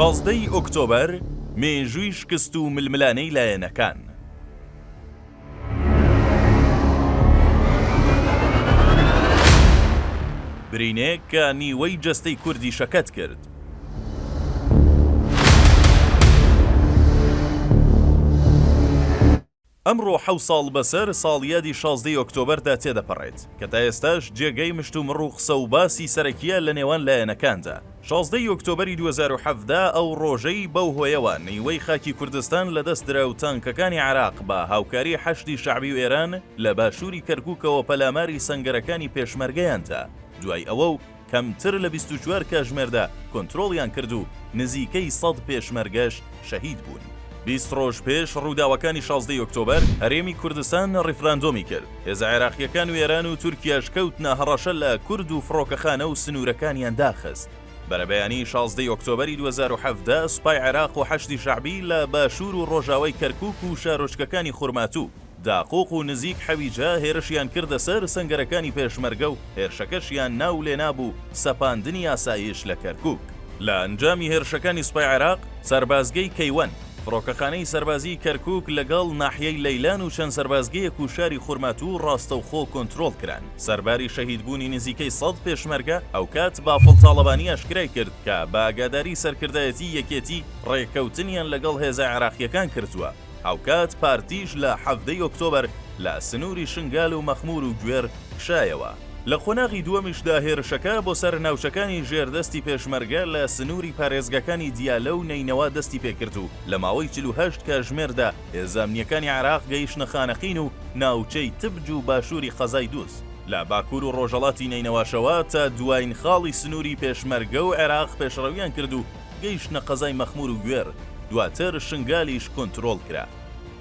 شازدە ی ئۆکتۆبەر، مێژووی شکست و ململانێی لایەنەکان. برینێک کە نیوەی جەستەی کوردی شەکەت کرد. ئەمڕۆ حەوت ساڵ بەسەر ساڵیادی شازدە ی ئۆکتۆبەردا تێدەپەڕێت، کە تا ئێستاش جێگەی مشتومڕ و قسە و باسی سەرەکییە لە نێوان لایەنەکاندا. شازدە ی ئۆکتۆبەری دوو هەزار و حەڤدە ئەو ڕۆژەی بەو هۆیەوە نیوەی خاکی کوردستان لەدەست درا و تانکەکانی عێراق بە هاوکاری حەشدی شەعبی و ئێران لە باشووری کەرکووکەوە پەلاماری سەنگەرەکانی پێشمەرگەیان دا دوای ئەوە و کەمتر لە بیست و چوار کاژمێردا کۆنترۆڵیان کرد و نزیکەی سەد پێشمەرگەش شەهید بوون. بیست ڕۆژ پێش ڕووداوەکانی شازدە ی ئۆکتۆبەر، هەرێمی کوردستان ڕیفراندۆمی کرد، هێزە عێراقییەکان و ئێران و تورکیاش کەوتنە هەڕەشە لە کورد و فڕۆکەخانە و سنوورەکانیان داخست. بەرەبەیانیی شازدە ی ئۆکتۆبەری دوو هەزار و حەڤدە، سوپای عێراق و حەشدی شەعبی لە باشوور و ڕۆژاوای کەرکووک و شارۆچکەکانی خورماتوو، داقوق و نزیک حەویجە هێرشیان کردە سەر سەنگەرەکانی پێشمەرگە و هێرشەکەشیان ناو لێنا بوو سەپاندنی ئاسایش لە کەرکوک. لە ئەنجامی هێرشەکانی سوپای عێراق، سەربازگەی کەیوان، فڕۆکەخانەی سەربازیی کەرکوک لەگەڵ ناحیەی لەیلان و چەند سەربازگەیەک و شاری خورماتوو ڕاستەوخۆ کۆنترۆڵ کران. سەرباری شەهیدبوونی نزیکەی سەد پێشمەرگە، ئەوکات بافڵ تاڵەبانی ئاشکرای کرد کە بە ئاگاداری سەرکردایەتیی یەکێتی ڕێککەوتنیان لەگەڵ هێزە عێراقییەکان کردووە، هاوکات پارتیش لە حەڤدە ی ئۆکتۆبەر لە سنووری شنگال و مەخموور و گوێر کشایەوە، لە قۆناغی دووەمیشدا هێرشەکە بۆ سەر ناوچەکانی ژێردەستی پێشمەرگە لە سنووری پارێزگاکانی دیالە و نەینەوا دەستی پێ کرد و لە ماوەی چل و هەشت کاژمێردا هێزە ئەمنییەکانی عێراق گەیشتنە خانەقین و ناوچەی تبج و باشووری قەزای دووز. لە باکوور و ڕۆژهەڵاتی نەینەواشەوە تا دواین خاڵی سنووری پێشمەرگە و عێراق پێشڕەوییان کرد و گەیشتنە قەزای مەخمور و گوێر، دواتر شنگالیش کۆنترۆڵ کرا.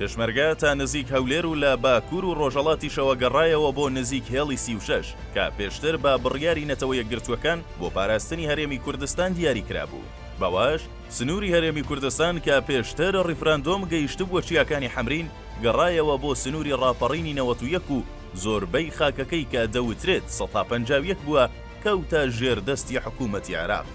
پێشمەرگە تا نزیک هەولێر و لە باکوور و ڕۆژەڵاتیشەوە گەڕایەوە بۆ نزیک هێڵی سی و شەش کە پێشتر بە بڕیاری نەتەوە یەکگرتووەکان بۆ پاراستنی هەرێمی کوردستان دیاری کرابوو بەوەش سنووری هەرێمی کوردستان کە پێشتر ڕیفراندۆم گەیشتبووە چیاکانی حەمرین گەڕایەوە بۆ سنووری ڕاپەڕینی نەوەت و یەک و زۆربەی خاکەکەی کە دەوترێت سەتا پەنجا و یەک بووە کەوتە ژێر دەستی حکوومەتی عێراق.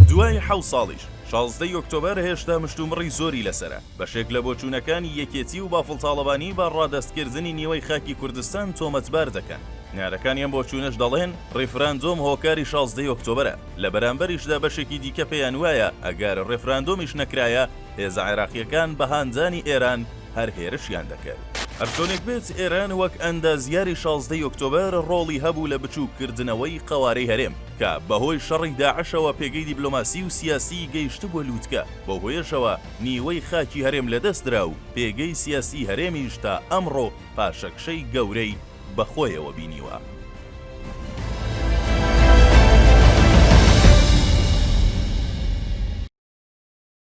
دوای حەوت ساڵیش، شازدە ی ئۆکتۆبەر هێشتا مشتومڕی زۆری لەسەرە. بەشێک لە بۆچوونەکانی یەکێتی و بافڵ تاڵەبانی بە ڕادەستکردنی نیوەی خاکی کوردستان تۆمەتبار دەکەن. نارەکانی ئەم بۆچوونەش دەڵێن، ڕیفراندۆم هۆکاری شازدە ی ئۆکتۆبەرە. لە بەرامبەریشدا بەشێکی دیکە پێیان وایە، ئەگەر ڕێفراندۆمیش نەکرایە، هێزە عێراقییەکان بە هاندانی ئێران، هەر هێرشیان دەکرد. هەرچۆنێک بێت ئێران وەک ئەندازیاری شازدە ی ئۆکتۆبەر ڕۆڵی هەبوو لە بچووک کردنەوەی قەوارەی هەرێم کە بەهۆی شەڕی داعشەوە پێگەی دیبلۆماسی و سیاسیی گەیشتبووە لووتکە بەو هۆیەشەوە نیوەی خاکی هەرێم لەدەست درا و پێگەی سیاسیی هەرێمیش تا ئەمڕۆ پاشەکشەی گەورەی بە خۆیەوە بینیوە.